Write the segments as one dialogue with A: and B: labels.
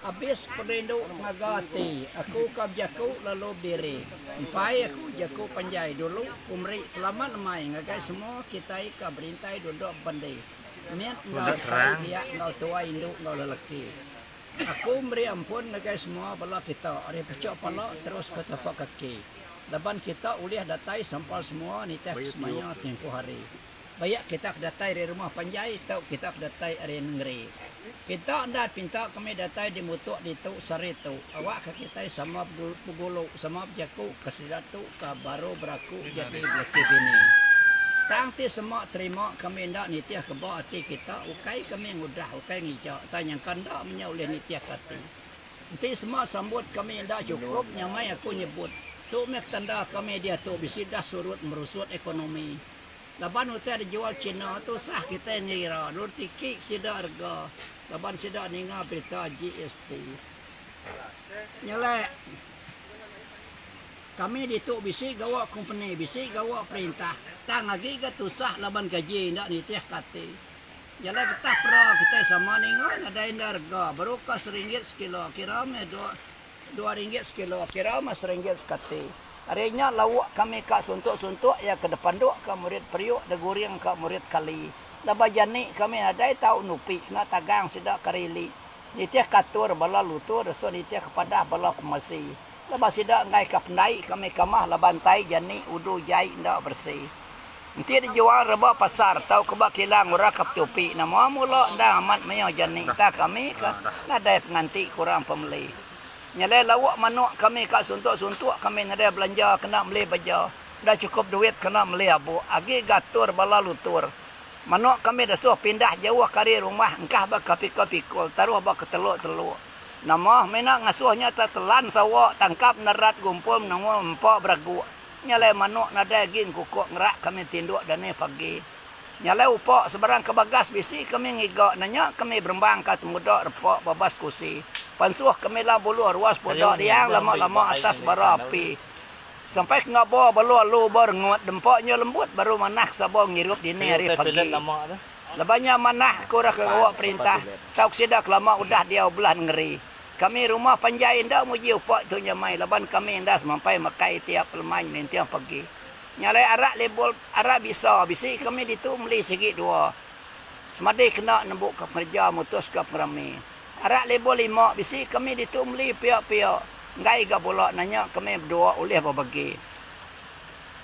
A: Abis perindu ngaga ati aku ka bejaku lalu bediri. Empai aku jaku panjai dulu ku meri selamat amai ngagai semua kitai ka berintai duduk bebendi mit enggau besai biak enggau tuai indu enggau lelaki. Aku meri ampun ngagai semua bala kita ari puchuk pala terus ke tapak kaki laban kita ulih datai sampal semua nitihka semaya timpuh hari. Bayak kita ke datai ari rumah panjai tau kita ke datai ari nengeri. Kita enda pinta kami datai di mutuk ditu sehari tu. Awak ka kitai sama begulu, sama bejaku ka sida tu ka baru beraku jadi belaki bini. Tang ti sema terima kami enda nitih ke ba ati kita ukai kami ngudah ukai ngija tang nyangka enda menya ulih nitih ke ati. Enti sema sambut kami enda chukup nyamai aku nyebut. Tu meh ke tanda kami diatu bisi dah surut merusut ekonomi. Laban utai dijual China tu sah kitai ngira lalu tiki sida rega laban sida ninga berita GST. Nyelek. Kami ditu bisi gawa kompeni, bisi gawa perintah. Tang agi ga tusah laban gaji enda nitih ka ati. Jalai getah pera kitai sama ninga nadai enda rega baru ka seringgit sekilo kira meh dua Dua ringgit sekilo, kira meh seringgit sekati. Ari nya lauk kami ka suntuk-suntuk iya ke depanduk ka murid periuk deguring ka murid kali. Laban jani kami nadai tau nupi kena tagang sida ka rili nitih ka atur bala lutu resun nitih ka padah bala pemesi. Laban sida enggai ka pendai kami ka mah laban tai jani udu jai enda beresi. Enti dijual reba pasar tauka ba kilang uraka petupi enda mua mula endang amat mayuh jani entah kami ka nadai penganti kurang pemeli. Nyelai lauk manuk kami ka suntuk-suntuk kami nadai belanja kena meli beja enda chukup duit kena meli abuk agi ga atur bala lutur. Manuk kami desuh pindah jauh ka ari rumah engkah ba ka pikul-pikul taruh ba ka teluk-teluk. Nama meh ina ngasuh nya ta telan sawa tangkap nerat gumpul menengul empa bereguk. Nyalai manok nadai gin kukok ngerak kami tindok dani pagi. Nyalai upok sebarang ka bagas bisi kami ngiga nanya kami berembang ka temuda repok babas kusi. Pansoh kami la buluh ruas poda riang lama lama atas bara api. Sampai ke ngabo balo alu ba rengut dempa nya lembut baru manah ke sabo ngirup dini hari pagi. Leban nya manah ke ora ke gawa perintah tau ke sida ke lama udah diau belah nengeri. Kami rumah panjai enda nguji upa tu nyamai laban kami enda semampai makai itiap peleman ninting pagi. Nyalai arak label arak bisa bisi kami ditu meli sigi dua semadi kena nembu ka pengereja mutus ka pengerami. Arak label lima bisi kami ditu meli pia pia enggai ga bula nanya kami bedua ulih bebagi.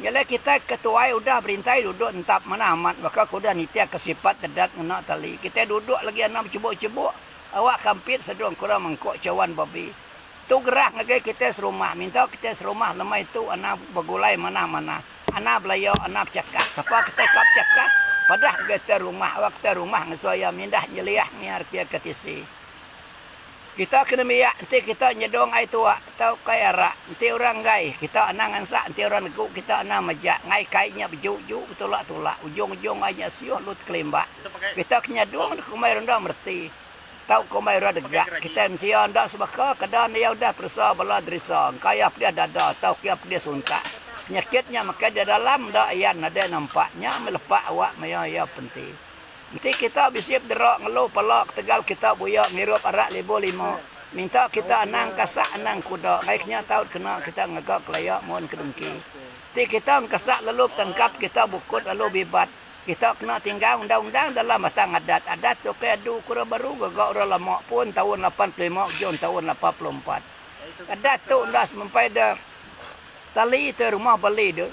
A: Nyalai kitai ke tuai udah berintai duduk nentap manah amat baka ke udah nitih ka sipat dedat ngena tali kitai duduk lagi anang bechebuk chebuk. Awak ka mpit sedung kurang mengkok cawan babi. Tu gerah ngagai kitai serumah. Minta kitai serumah lemai tu anang begulai manah-manah. Anang belaya, anang bechakah. Sapa kitai ka bechakah, padah ngagai kitai rumah. Awak kitai rumah ngesuai iya mindah nyeliah ngiar kia ke tisi. Kita kena miak enti kita nyedung ai tuak tauka ai arak. Enti orang enggai, kita anang ngansak. Enti orang negu, kita anang majak. Ngaika ai nya beju-ju, betulak-tulak. Ujung-ujung ai nya siuh lut kelimbak. Kita ke nyadung deka komai rundang mereti tau komai orang degak. Kitai mensia enda sebaka ke da ndia udah peresa bala deresa engkaya pedih dada tau kia pedih suntak. Penyakit nya makai dia dalam enda ayan nadai nampak nya meh lepa awak maya iya penti. Enti kita bisi pedera ngelu pala ketegal kita buya ngirup arak libu lima minta kita anang kasak anang kuda ngai kinya tau dikena kita ngaga kelaya mun ke dengki. Enti kita engkasak lalu betangkap kita bukut lalu bibat. Kita kena tinggal undang-undang dalam batang adat. Adat tu ukai adu ku orang baru, gaga orang lama pun taun lapan puluh lima ujung taun lapan puluh empat. Adat tu enda semampai da tali te rumah bali de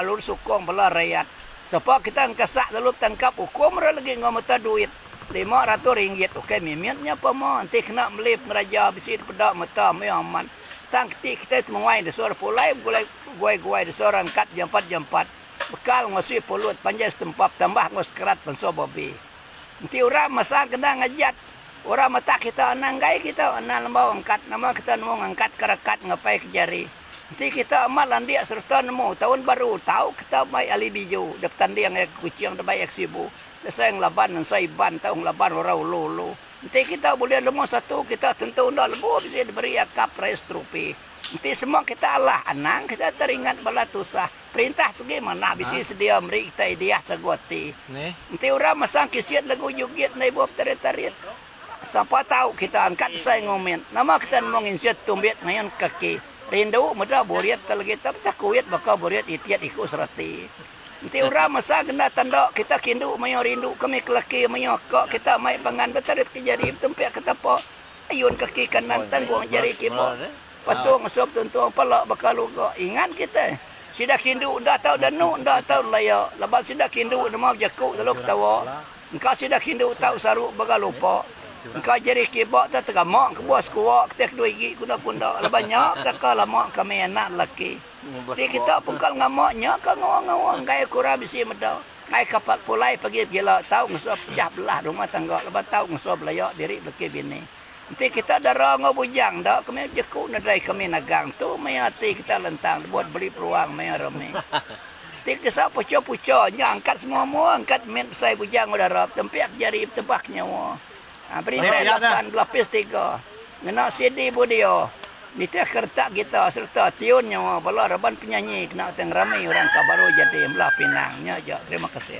A: lalu disukung bala rayat. Sapa kita engkesak lalu betangkap ukum orang legi enggau meta duit lima ratus ringgit ukai mimit nya pama enti kena meli pengeraja bisi dipeda meta meh amat tang keti kitai temuai disuruh pulai begulai guai-guai disuruh angkat jampat-jampat. Bekal enggau si pulut panjai setempa betambah enggau sekerat penso babi. Enti orang masang kena ngajat orang matak kita anang gai kita anang lembau angkat nama kita nemu ngangkat ke rekat ngapai ke jari. Enti kita amat landik sereta nemu taun baru tau kita mai ali biju da betanding iya ke Kuching da bai iya ke Sibu dasai ngelaban ansa Iban tau ngelaban orang ulu-ulu. Enti kita bulih nemu satu kita tentu enda lebuh bisi diberi iya cup race trophy. Enti semua kita alah anang kita teringat bala tusah. Perintah segi manah bisi sedia meri kita idea sagu ati. Enti orang masang kisit lagu Jugit Endai Bup Tarit Tarit, sapa tau kita angkat besai ngoment. Nama kita nemu nginsut tumbit ngayun kaki. Rindu meda burit te legi tau betah kuit baka burit itit iku serati. Enti orang masang kenda tanda kita kindu mayuh rindu ke mih kelaki mayuh ka kita mai pangan betarit ke jari betumpik ke tapa ayun kaki kanan tanggung jari kiba. Lepas tu ngesup tuntung pala baka luga ingan kitai. Sida kindu enda tau danu enda tau laya laban sida kindu nemau jaku lalu ketawa. Engka sida kindu tau saru baka lupa. Engka jari kiba tau tegama kebuah sekua kitai kedua igi kunda-kunda laban nya saka lama kami anak lelaki. Ti kita pengkal ngama nya ka ngawa-ngawa enggai kurang bisi meda enggai ka pulai pagi begila tau ngesup pecah belah rumah tangga laban tau ngesup laya diri belaki bini. Enti kita dara enggau bujang enda ke meh jeku nedai kami nagang tu meh ati kita lentang tebuat beli peluang maya rami. Ti kesa pucha-pucha nya angkat semua mua angkat mit besai bujang enggau dara betempik jari betebak nyawa. Ha berintai lapan belapis tiga ngena CD budio nitih ke retak gitar sereta tune nyawa bala raban penyanyi kena utai ngerami orang ka baru jadi embelah pinang nya aja terima kasih.